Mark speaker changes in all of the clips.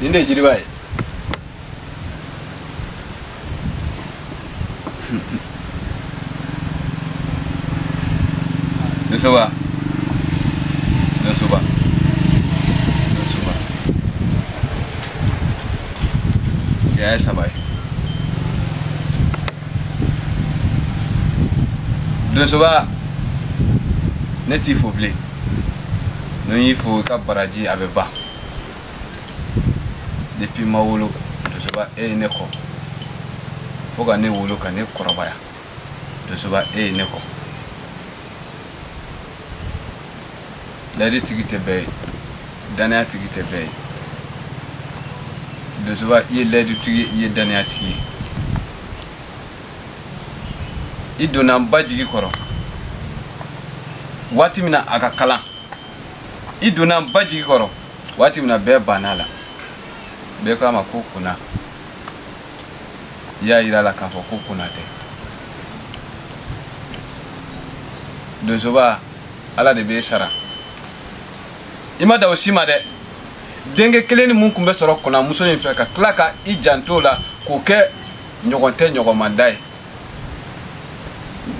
Speaker 1: nin de ye jiriba ye Donsoba. Donsoba. Donsoba. Cɛya ye saba ye. Donsoba ne t'i fo bilen. ni n y'i fo i ka baraji a bɛ ban depuis n ma wolo donsoba e ye ne kɔ fo ka ne wolo ka ne kɔrɔbaya donsoba e ye ne kɔ layidu tigi tɛ bɛɛ ye danaya tigi tɛ bɛɛ ye donsoba i ye layidu tigi ye i ye danaya tigi ye i donna n ba jigi kɔrɔ waati min na a ka kalan i donna n ba jigi kɔrɔ waati min na bɛɛ banna a la bɛɛ ko a ma ko kona i y'a yira a la k'a fɔ ko kona tɛ donsoba ala de b'e sara i ma dan o si ma dɛ denkɛ kelennin min tun bɛ sɔrɔ konamuso in fɛ ka tila ka i jant'o la k'o kɛ ɲɔgɔn tɛ ɲɔgɔn ma da ye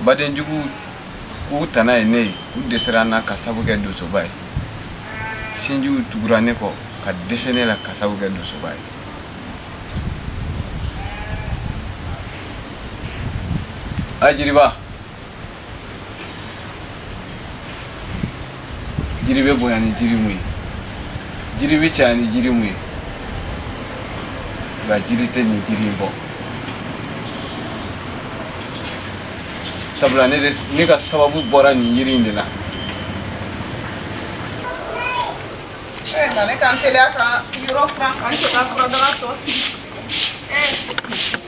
Speaker 1: badenjuguw k'u tana ye ne ye u dɛsɛra n na ka sabu kɛ donsoba ye sinjiw tugura ne kɔ ka dɛsɛ ne la ka sabu kɛ donsoba ye a jiriba jiri bɛ bonya ni jiri mun ye jiri bɛ caya ni jiri mun ye nka jiri tɛ nin jiri in bɔ sabula ne ka sababu bɔra nin yiri in de
Speaker 2: la. Eh, nka ne ka n teliya ka yɔrɔ furan ka n cɛ ka furadaga tɔ sigi. Eh.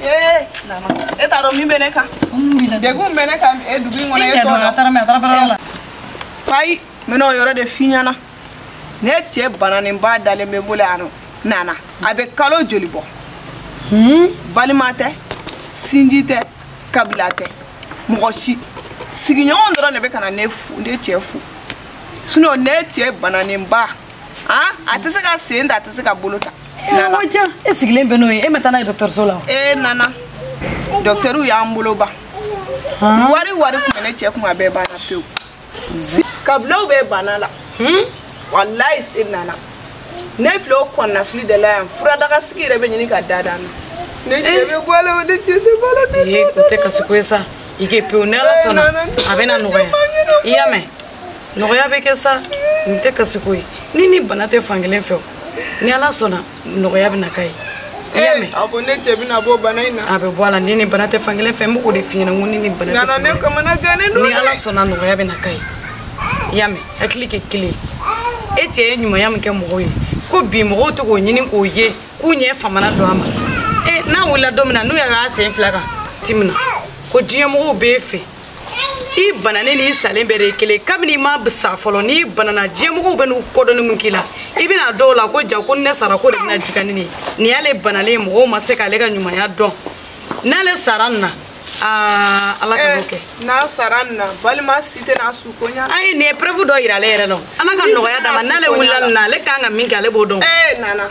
Speaker 2: ee nana e t'a dɔn min bɛ ne kan degun bɛ ne kan e dugu in kɔnɔ e t'o dɔn a taara min a
Speaker 3: taara baara la ayi
Speaker 2: n bɛna o yɔrɔ de f'i ɲɛna ne cɛ bananenba dalen bɛ n bolo yan nɔ nana a bɛ kalo joli bɔ balima tɛ sinji tɛ kabila tɛ mɔgɔ si sigiɲɔgɔn dɔrɔn de bɛ ka na ne cɛ fo sinon ne cɛ bananenba a tɛ se ka sen ta a tɛ se ka bolo ta nka
Speaker 3: e sigilen bɛ n'o ye e ma taa n'a ye dɔgɔtɔrɔso la e
Speaker 2: nana dɔgɔtɛriw y'an bolo ban wari o wari tun bɛ ne cɛ kun a bɛɛ banna pewu kabilaw bɛɛ banna a la hmm? walayi e nana ne filɛ o kɔnɔnafili de la yan furadaga sigi yɛrɛ bɛ ɲini ka da dan na ne eh. cɛ bɛ bɔ a la ne cɛ tɛ bɔ a la ne tɛ bɔ a la. ee o tɛ kasi ko ye sa
Speaker 3: i kɛ pewu ni ala sɔnna a bɛna nɔgɔya i y'a mɛn. nɔgɔya bɛ kɛ sa nin tɛ kasiko ye ni ni bana tɛ fankelen fɛ ni ala sɔnna nɔgɔya bɛ na k'a ye i y'a mɛn a ko ne cɛ bɛna bɔ
Speaker 2: bana in na a bɛ bɔ a la ni ni bana
Speaker 3: tɛ fankelen fɛ n b'o de f'i ɲɛna n ko ni ni bana tɛ nana ne kamanagannen
Speaker 2: don
Speaker 3: ni
Speaker 2: ala sɔnna nɔgɔya
Speaker 3: bɛ na k'a ye i y'a mɛn hakili kɛ kelen e cɛ ye ɲumanya min kɛ mɔgɔw ye ko bi mɔgɔw tɛ k'o ɲini k'o ye k'u ɲɛ famana don a ma e n'a wulila don min na n'u y'a sen fila kan tuma min na ko diɲɛmɔgɔw b'e fɛ i bananen n'i salen bɛɛ de ye kelen kabini i ma sa fɔlɔ n'i banana diɲɛmɔgɔw bɛ n'u kɔdonni min k'i la i bɛn'a dɔn o la ko jaa ko ni ne sara ko de bɛna juguya ni nin ye nin y'ale banalen ye mɔgɔw ma se k'ale ka ɲumanya dɔn n'ale sara nin na aa ala kan'o kɛ n'a sara nin
Speaker 2: na balima si tɛ n'a su ko ɲa ayi nin ye preuve dɔ yira
Speaker 3: ale yɛrɛ la ala ka nɔgɔya d'a ma n'ale wulila nin na ale kan ka min kɛ ale b'o dɔn ee nana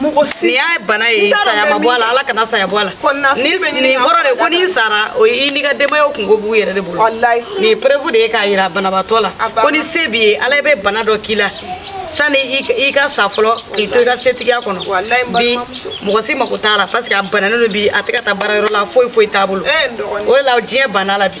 Speaker 3: mɔgɔ si nin y'a bana ye saya ma bɔ a la ala kana saya bɔ a la nin kɔrɔ de ko n'i sara o i n'i ka denbayaw kunko b'u yɛrɛ de bolo nin ye preuve de ye k'a yira banabaatɔ la ko ni se b'i ye ala bɛ bana dɔ k'i la sani i ka sa fɔlɔ k'i to i ka setigiya kɔnɔ bi mɔgɔ si mako t'a la parce que a bananen don bi a tɛ ka taa baara yɔrɔ la foyi foyi t'a bolo o de la diɲɛ banna a la bi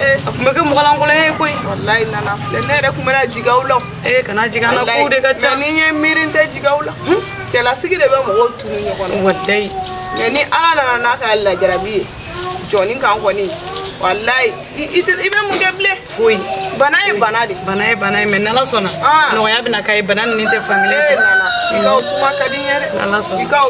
Speaker 3: Eh, a tun bɛ kɛ mɔgɔlankolon ye koyi walayi nana filɛ
Speaker 2: ne yɛrɛ tun bɛna jigi aw la ee eh, kana jigi an
Speaker 3: na kow de ka ca ni n ye miiri n tɛ jigi
Speaker 2: aw la hmm? cɛlasigi de bɛ mɔgɔw tunu ɲɔgɔn na walayi mais
Speaker 3: ni ala
Speaker 2: nana n'a ka lajarabi ye jɔni kan kɔni walayi i bɛ mun kɛ bilen foyi
Speaker 3: bana ye
Speaker 2: bana de bana ye bana ye mais n'ala
Speaker 3: sɔnna ah. nɔgɔya bɛna k'a ye bana ni ni tɛ fankelen fɛ eh, i ka kuma
Speaker 2: ka di n ye dɛ n'ala sɔnna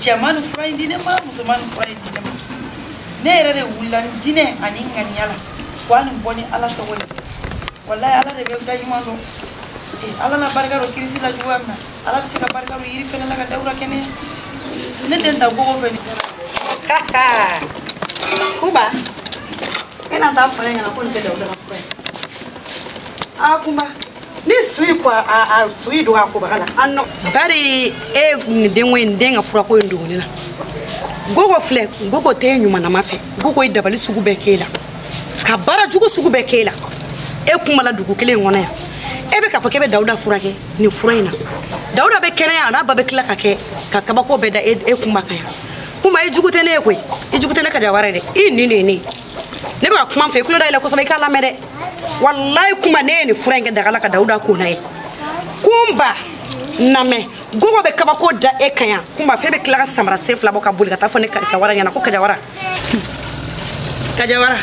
Speaker 3: cɛ ma nin fura in di ne ma muso ma nin fura in di ne ma ne yɛrɛ de wulila ni diinɛ ani ŋaniya la wa nin bɔ ni ala tɔgɔ ye walayi ala de bɛ da ɲuman dɔn ala na barika don kirisi la cogoya min na ala bɛ se ka barika don yiri fɛnɛ la ka dawuda kɛnɛya ne tɛ n ta gogo fɛ kunba e na taa fɔ ne ɲɛna ko nin tɛ dawuda ka fura ye aa kunba ne su ye ko a su ye dogo a kobaga la an nɔ. bari e nin denko in den ka furako in dogo ne na gogo filɛ gogo tɛ ɲuman na maa fɛ gogo ye dabali sugu bɛɛ k'e la ka baara jugu sugu bɛɛ k'e la e kunba la dugu kelen in kɔnɔ yan e bɛ k'a fɔ k'e bɛ dawuda furakɛ nin fura in na dawuda bɛ kɛnɛya a n'a ba bɛ tila ka kɛ ka kabako bɛɛ da e kunba kan yan kunba i jugu tɛ ne ye koyi i jugu tɛ ne kajawara dɛ i nin de ye ne ye ne bɛ ka kuma fɔ i tulo da yɛlɛ kosɛbɛ i k'a lamɛn dɛ walayi kunba n'e ye nin fura in kɛ daga la ka dawuda ko n'a ye kunba namɛ gogo bɛ kabako da e kan yan kunba f'e bɛ tila ka samara sen fila bɔ ka boli ka taa fɔ ne kajawara ɲɛna ko kajawara kajawara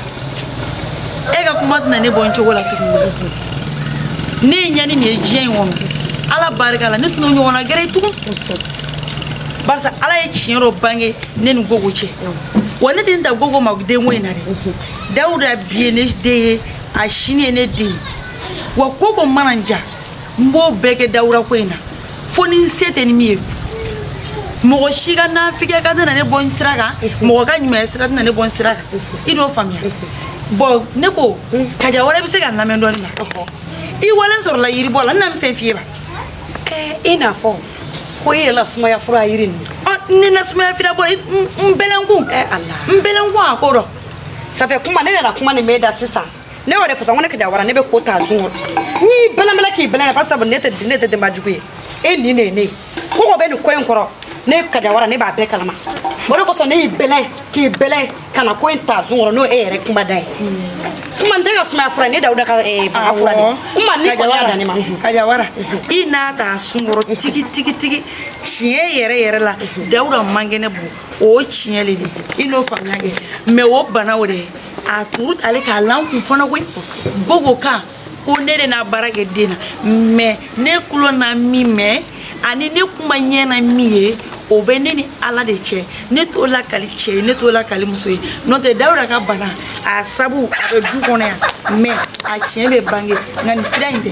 Speaker 3: e ka kuma tɛna ne bɔ n cogo la tuguni ne ye ɲani min ye diɲɛ in kɔnɔ ala barika la ne tɛna ɲɔgɔnna gɛrɛ tugun barisa ala ye tiɲɛ dɔ bange ne ni gogo cɛ wa ne tɛ n ta gogo ma denko in na dɛ dawuda bi ye ne den ye a sini ye ne den ye wa ko ko mana n ja n b'o bɛɛ kɛ dawuda ko in na fo ni n se tɛ ni min ye mɔgɔ si ka nafigiya ka tɛna ne bɔ n sira kan mɔgɔ ka ɲumanya sira tɛna ne bɔ n sira kan i n'o faamuya bɔn ne ko kajawara bɛ se ka n lamɛn dɔɔni wa i walen sɔrɔla yiribɔ la n na min f'i ye ba i n'a fɔ ko i yɛrɛ la sumaya fura yiri ɲini ne na sumaya fura bɔ n bɛlɛnkun n bɛlɛnkun a kɔrɔ ça fait kunba ne nana kuma nin mɛn i da sisan ne y'o de fasa ko ne kajawara ne bɛ ko ta sun kɔrɔ n y'i bɛlɛnbɛlɛ k'i bɛlɛn parce que ne tɛ ne tɛ denba jugu ye e nin de ye ne ye ko ko bɛ nin ko in kɔrɔ ne kajawara ne b'a bɛɛ kalama o de kosɔn ne y'i bɛlɛn k'i bɛlɛn ka na ko in ta sun kɔrɔ n'o e yɛrɛ kuma da ye kuma n tɛ ka sumaya fura ne dawuda ka eh, bana fura de kuma ni kɔni y'a dan ne ma kajawara i n'a ta sun kɔrɔ tigi tigi tigi tiɲɛ yɛrɛ yɛrɛ la dawuda man kɛnɛ bɔn o ye tiɲɛ le di i n'o faamuya kɛ mɛ o bana o de ye a turu ale k'a la n kun fana koyi gogo kan ko ne de na baara kɛ den na mɛ ne kulo na min mɛn ani ne kunba ɲɛ na min ye o bɛ ne ni ala de cɛ ne t'o lakali cɛ ye ne t'o lakali muso ye n'o tɛ dawuda ka bana a sabu a bɛ du kɔnɔ yan mɛ a tiɲɛ bɛ bange nka nin fira in tɛ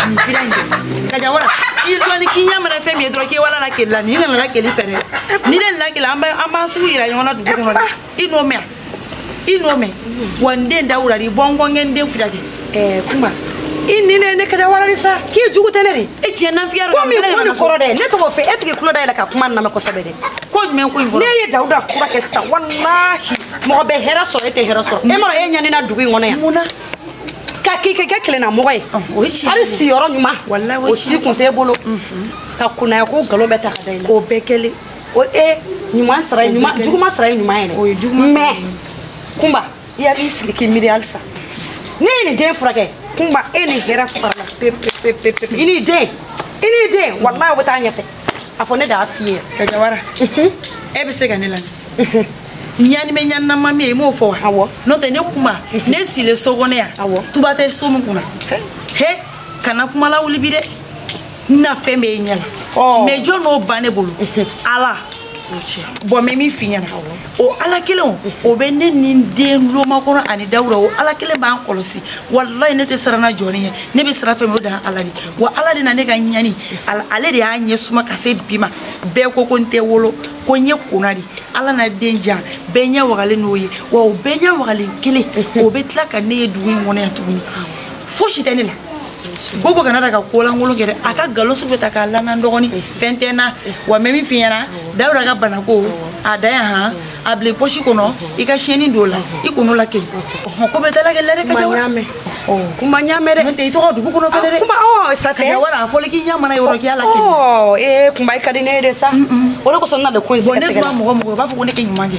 Speaker 3: nin fira in tɛ kajawara i dɔɔni k'i ɲɛ mana fɛn min ye dɔrɔn k'i wala lakali la n'i nana lakali fɛ dɛ ni ne na lakali an b'an sugu yira ɲɔgɔn na dugu kɔnɔ dɛ i n'o mɛn i n'o mɛn wa n den dawuda di bɔn ko n ka n den fura kɛ ɛɛ kunba i ni ne ne kajawara sa k'i jugu tɛ ne de e tiɲɛ nafiya dɔ ko bɛ ko nin kɔrɔ dɛ ne tɔgɔ fɛ e tɛ k'i tulo da yɛlɛ ka kuma lamɛn kosɛbɛ dɛ ko jumɛn ko in kɔrɔ n'e ye dawuda fura kɛ sisan walahi mɔgɔ bɛ hɛrɛ sɔrɔ e tɛ hɛrɛ sɔrɔ e m'a dɔn e ɲanina dugu in kɔnɔ yan mun na ka k'i kɛ kɛ kelenna mɔgɔ ye hali siyɔrɔ ɲuman o si kun t'e bolo ka kunnaya ko nkalon bɛ ta ka da i la o bɛɛ kɛlen o e ɲuman sara ye ɲuman juguman sara ye ɲuman yɛrɛ o ye juguman mais kunba i hakili sigi k'i miiri halisa n'e ye nin den furakɛ kunba e ni hɛrɛ farala pepepepepe i n'i den i n'i den walayi o bɛ taa ɲɛfɛ a fɔ ne de y'a f'i ye kajawara e bɛ se ka ne lamɛn ɲanimɛ ɲaninama min ye i m'o fɔ wa awɔ n'o tɛ ne kunba ne silen so kɔnɔ yan awɔ tuba tɛ so min kunna he kana kuma lawuli bi dɛ n na fɛn bɛɛ ye ɲɛ la mɛ jɔn n'o ban ne bolo ala bɔn mɛ min fi ɲɛna o ala kelen o bɛ ne ni n den lomakɔnɔ ani dawuda o ala kelen b'an kɔlɔsi walayi ne tɛ siran na jɔn ɲɛ ne bɛ siran fɛn o dan ala di wa ala de na ne ka ɲani ale de y'a ɲɛ suma ka se bi ma bɛɛ ko ko n tɛ wolo ko n ye kona di ala na den jan bɛɛ ɲɛ wagalen n'o ye wa o bɛɛ ɲɛ wagalen kelen o bɛ tila ka ne ye dugu in kɔnɔ yan tuguni fosi tɛ ne la gogo kana taa ka kolankolon kɛ dɛ a ka galon sugu bɛ ta k'a lanan dɔgɔni fɛn tɛ n na wa mɛ min fi ɲɛna dawuda ka banako a da yan han a bila pɔsi kɔnɔ i ka siyɛni don la i kɔnɔ la kelen ko bɛ dalakɛ lɛre ka jawa kuma ɲamɛ dɛ tɛ i tɔgɔ dugu kɔnɔ fɛnɛ dɛ kuma ɔ safɛ ka wara a fɔli k'i ɲamana yɔrɔ k'i y'a la kelen ɔ ee kunba i ka di ne ye de sa o de kosɔn n na de ko in sɛgɛsɛgɛ ne kuma mɔgɔ mɔgɔ u b'a fɔ ko ne kɛ ɲuman kɛ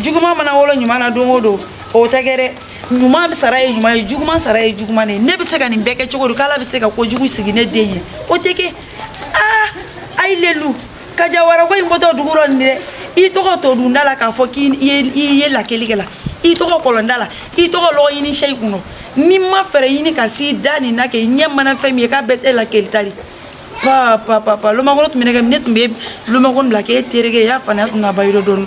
Speaker 3: juguman mana wolo ɲuman na don o don o tɛ kɛ dɛ ɲuman sara ye ɲuman ye juguman sara ye juguman de ye ne bɛ se ka nin bɛɛ kɛ cogo di k'ala bɛ se ka kojugu sigi ne den ye o tɛ kɛ aa ayi lelu kajawarako in bɔtɔ dugu dɔ nin dɛ i tɔgɔ to dunda la k'a fɔ k'i ye lakelikɛla i tɔgɔ kɔlɔnda la i tɔgɔ lɔgɔ ɲini sɛ i kun dɔ n'i ma fɛɛrɛ ɲini ka s'i da nin na kɛ i ɲɛ mana fɛn min ye k'a bɛɛ tɛ lakelita de papa papa lomakolo tun bɛ ne kɛ ne tun bɛ lomakolo bila k'e tereke y'a faamuya tun ka ba yɔrɔ dɔɔni